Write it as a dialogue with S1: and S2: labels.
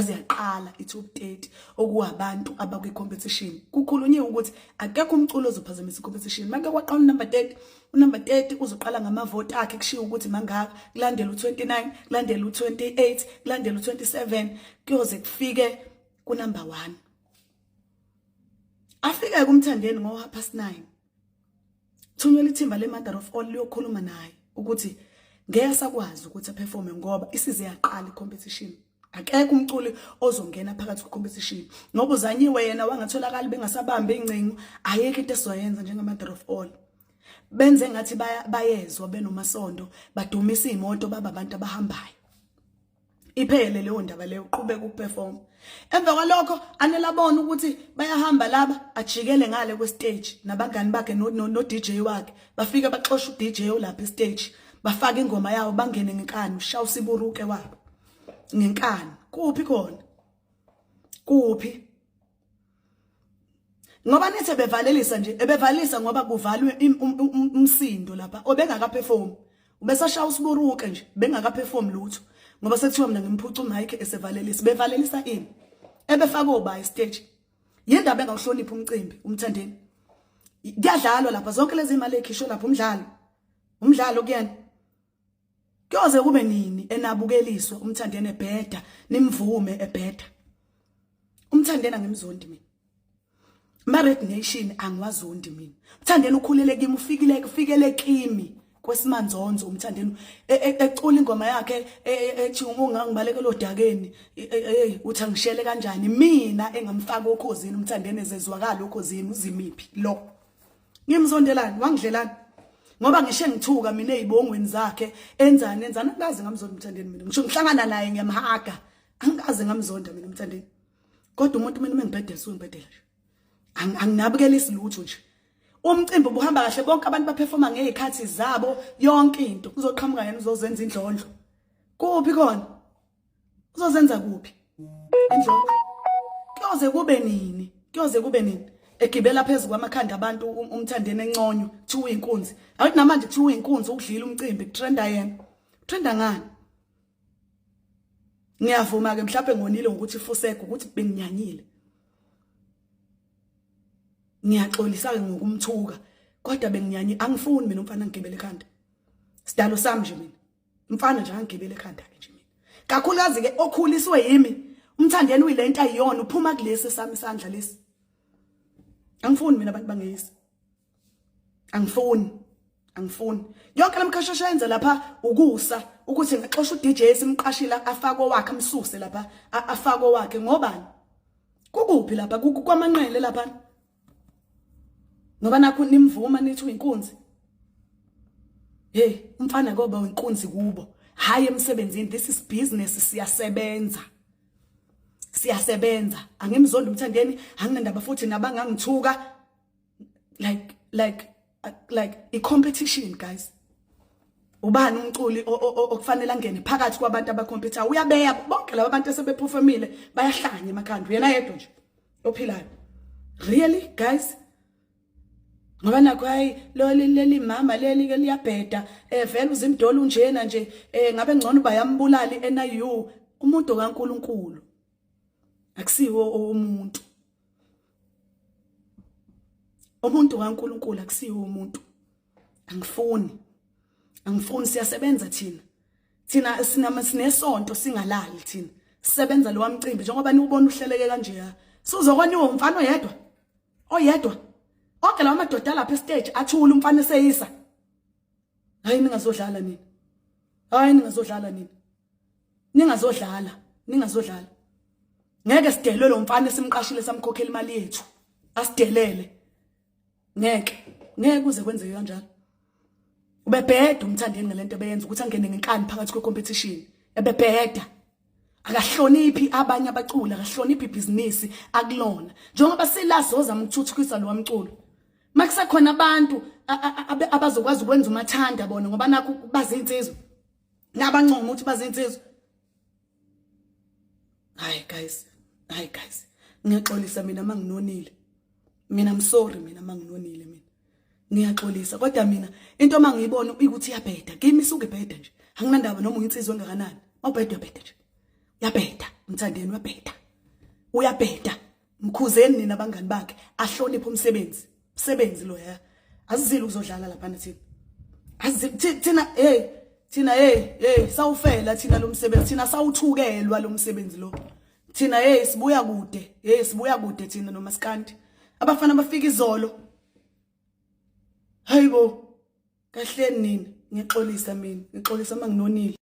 S1: yaze yaqala i-top 30 okuwabantu abakwi-competition kukhulunyiwe ukuthi akekho umculo ozophazamisa i-competition make kwaqala unumber 30 unumber 30 uzoqala ngamavoti akhe kushiwo ukuthi mangaka kulandela u-29 kulandela u-28 kulandela u-27 kuyoze kufike kunumber 1 afike kumthandeni ngo-half past 9 thunyela ithimba le-mother of all liyokhuluma naye ukuthi ngeke sakwazi ukuthi aperforme ngoba isize yaqala i-competition akekho umculi ozongena phakathi kwecompetition ngoba uzanyiwe yena wangatholakali bengasabambi ingcingo ayeke into esizoyenza njengamother of all benze ngathi bayezwa benomasondo badumisa imoto baba abantu abahambayo iphele leyo ndaba leyo uqhubeka ukuperform emva kwalokho anelabona ukuthi bayahamba laba ajikele ngale kwestage nabangani bakhe no, no, no DJ wakhe bafike baxosha uDJ olapha estage bafaka ingoma yawo bangene ngenkani ushawu siburuke wabo ngenkani kuphi khona kuphi ngoba nithe bevalelisa nje ebevalisa ngoba kuvalwe um, um, umsindo lapha obengaka perform ubesashaya usiburuke nje bengaka perform lutho ngoba sekuthiwa mina ngimphuca uMike esevalelisa bevalelisa ini ebefaka obayi stage yindaba engawuhloniphi umcimbi umthandeni kuyadlalwa lapha zonke lezi imali ekhishwe lapha umdlalo umdlalo kuyena Kuyoze kube nini enabukeliswa umthandeni ebheda nimvume ebheda. Umthandeni angimzondi mina. Ma Red Nation angiwazondi mina. Umthandeni ukhulele kimi ufikile kufikele kimi kwesimanzonzo umthandeni e, e, ecula ingoma yakhe e, ethi ungangibaleke lodakeni hey uthi angishele kanjani mina engamfaka okhozini umthandeni ezezwakala okhozini uzimiphi lo ngimzondelani wangidlelani ngoba ngisho engithuka mina ezibongweni zakhe enzani enzani angazi ngamzonda umthandeni mina ngisho ngihlangana naye ngiyamhaga angazi ngamzonda mina umthandeni kodwa umuntu mina mengibhedela sungibhedela nje anginabukelisi lutho nje umcimbi ubuhamba kahle bonke abantu baperforma ngezikhathi zabo yonke into kuzoqhamuka yena uzozenza indlondlo kuphi khona uzozenza kuphi indlovu kuyoze kube nini kuyoze kube nini egibela phezu kwamakhanda abantu um-, umthandeni enconywa kuthiwa uyinkunzi awuthi namanje kuthiwa uyinkunzi ukudlila umcimbi kutrenda yena utrenda ngani ngiyavuma ke mhlawumbe ngonile ngokuthi fusego ukuthi benginyanyile ngiyaxolisa ke ngokumthuka kodwa benginyanye angifuni mina umfana ngigibele ekhanda sidalo sami nje mina mfana nje angigibele ekhanda ke nje mina kakhulukazi ke okhuliswe yimi umthandeni uyilento ayiyona uphuma kulesi sami isandla lesi angifuni mina abantu bangeyisi angifuni angifuni yonke lamkhashasha yenze lapha ukusa ukuthi ngixosha uDJ simqashila afake wakhe amsuse lapha afake wakhe ngobani kukuphi lapha kwamanqele lapha ngoba nakho nimvuma nithi uyinkunzi hey umfana koba uyinkunzi kubo hayi emsebenzini this is business siyasebenza siyasebenza angimzondi umthandeni anginandaba futhi nabangangithuka like like like i competition guys ubani umculi okufanele angene phakathi kwabantu abacompetha uyabeya bonke laba bantu esebephufemile bayahlanya emakhanda uyena yedwa nje ophilayo really guys ngoba nakho hayi leli leli mama leli ke liyabheda eh vele uzimdolo unjena nje eh ngabe ngcono bayambulali NIU umuntu kaNkuluNkulu akusiwo umuntu umuntu kaNkuluNkulu akusiyo umuntu angifuni angifuni siyasebenza thina thina sinama sinesonto singalali thina sisebenza lo wamcimbi njengoba niwubona uhleleke kanje ya sizokwaniwa umfana oyedwa oyedwa onke lawa madoda lapha estage athula umfana eseyisa hayi ningazodlala nini hayi ningazodlala nini ningazodlala ningazodlala ngeke sidelwe lo mfana esimqashile samkhokhela imali yethu asidelele ngeke ngeke kuze kwenzeke kanjalo ubebheda umthandeni ngalento beyenza ukuthi angene ngenkani phakathi kwe competition ebebheda akahloniphi abanye abaculi akahloniphi ibhizinisi akulona njengoba silazoza mthuthukisa lo mculo makusekhona abantu abazokwazi ukwenza umathanda bona ngoba nakho bazinsizwa nabancoma ukuthi bazinsizwa hayi guys hayi guys ngiyaxolisa mina manginonile mina I'm sorry mina manginonile mina ngiyaxolisa kodwa mina into mangiyibona ukuthi iyabheda kimi suke bheda nje anginandaba noma uyinsizwa engakanani awubheda bheda nje yabheda mthandeni wabheda uyabheda mkhuzeni nina abangani bakhe ahloniphe umsebenzi msebenzi lo ya azizile ukuzodlala lapha thina azithina hey thina hey hey sawufela thina lo msebenzi thina sawuthukelwa lo msebenzi lo thina hey sibuya kude hey sibuya kude thina nomaskandi abafana bafika izolo hayibo kahleni nini ngixolisa mina ngixolisa manginonile